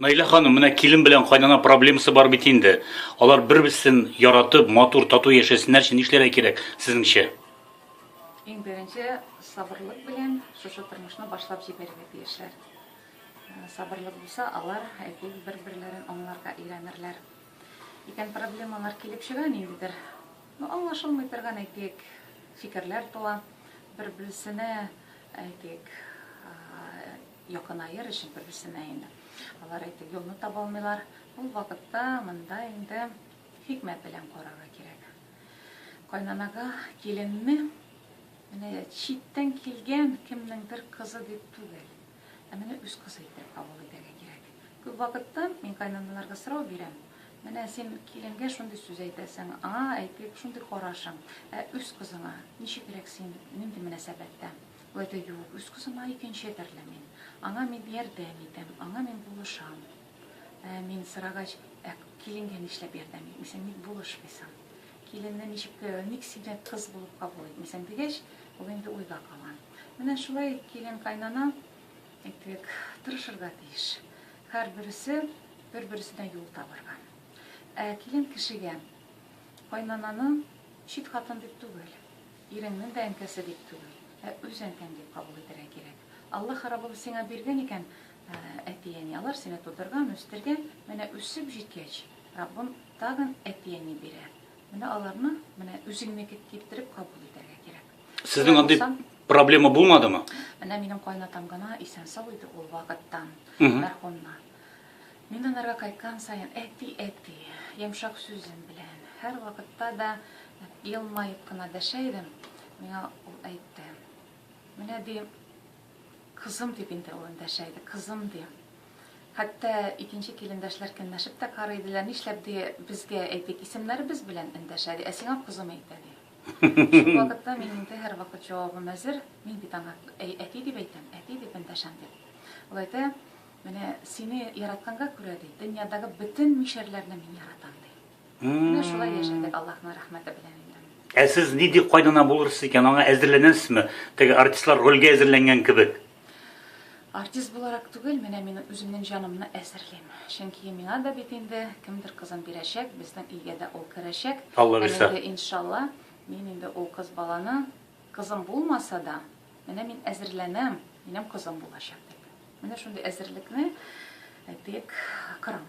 Наилә ханым, менә килен белән кайнана проблемасы бар бит инде. Алар бер-берсен яратып, матур, тату яшәсеннәр өчен нишләргә кирәк сезнеңчә? Иң беренче сабырлык белән шушы тормышны башлап җибәрергә тиешләр. Э, сабырлык булса, алар әйтик бер-берләрен аңларга өйрәнерләр. Икән проблемалар килеп чыга ниндидер Ну, аңлашылмый торган, әйтик, фикерләр туа. Бер-берсенә, әйтик, якынаер өчен бер-берсенә инде. Алар, әйтик, юлны таба алмыйлар. Ул вакытта монда инде хикмәт белән карарга кирәк. Кайнанага киленне менә читтән килгән кемнеңдер кызы дип түгел. Ә менә үз кызы итеп кабул итәргә кирәк. Күп вакыттан мин кайнаналарга сорау бирәм, Менә син киленгә шундый сүз әйтәсең, аңа әйтик, шундый карашың, ә үз кызыңа ничегрәк син, нинди мөнәсәбәттә? Ул әйтә, юк, үз кызыма икенче төрле мин. Аңа мин ярдәм итәм, аңа мин булышам. Ә мин сорагач, ә киленгә нишләп ярдәм итмисең, ник булышмыйсың? Киленне ничек, ник сине кыз булып кабул итмисең дигәч, ул инде уйга кала. Менә шулай килен-кайнана, әйтик, тырышырга тиеш. Һәрбересе бер-бересенә юл табарга. Ә килен кешегә кайнананы чит хатын дип түгел, иреңнең дә әнкәсе дип түгел, ә үз әнкәң дип кабул итәргә кирәк. Алла харабыбыз сиңа биргән икән әти-әни, алар сине тудырган, үстергән, менә үсеп җиткәч, Раббым тагын әти-әни бирә. Менә аларны, менә үзеңнеке китереп кабул итәргә кирәк. Сезнең андый проблема булмадымы? Менә минем кайнатам гына исән-сау иде ул вакыттан, мәрхүмна. Мин анарга кайткан саен, әти, әти, йомшак сүзем белән, һәр вакытта да елмаеп кына дәшә идем. Миңа ул әйтте. Менә ди, кызым дип инде ул дәшә иде, кызым ди. Хәтта икенче килендәшләр көнләшеп тә карый иделәр. Нишләп ди, безгә әйтик, исемнәребез белән эндәшә ди, ә сиңа кызым әйтә ди. Шул вакытта мин инде һәрвакыт җавабым әзер. Мин бит аңа әй, әти дип әйтәм, әти дип эндәшәм дип. Ул әйтә, менә сине яратканга күрә ди, дөньядагы бөтен мишәрләрне мин яратам ди. Менә шулай яшәдек Аллаһның рәхмәте белән инде. Ә сез нинди кайнана булырсыз икән, аңа әзерләнәсезме? Теге артистлар рольгә әзерләнгән кебек. Артист буларак түгел, менә мин үземнең җанымны әзерлим. Чөнки миңа да бит инде кемдер кызын бирәчәк, безнең өйгә дә ул керәчәк. Алла бирсә. Инде иншалла, мин инде ул кыз баланы кызым булмаса да, менә мин әзерләнәм, минем кызым булачак дип. Менә шундый әзерлекне, әйтик, кырам.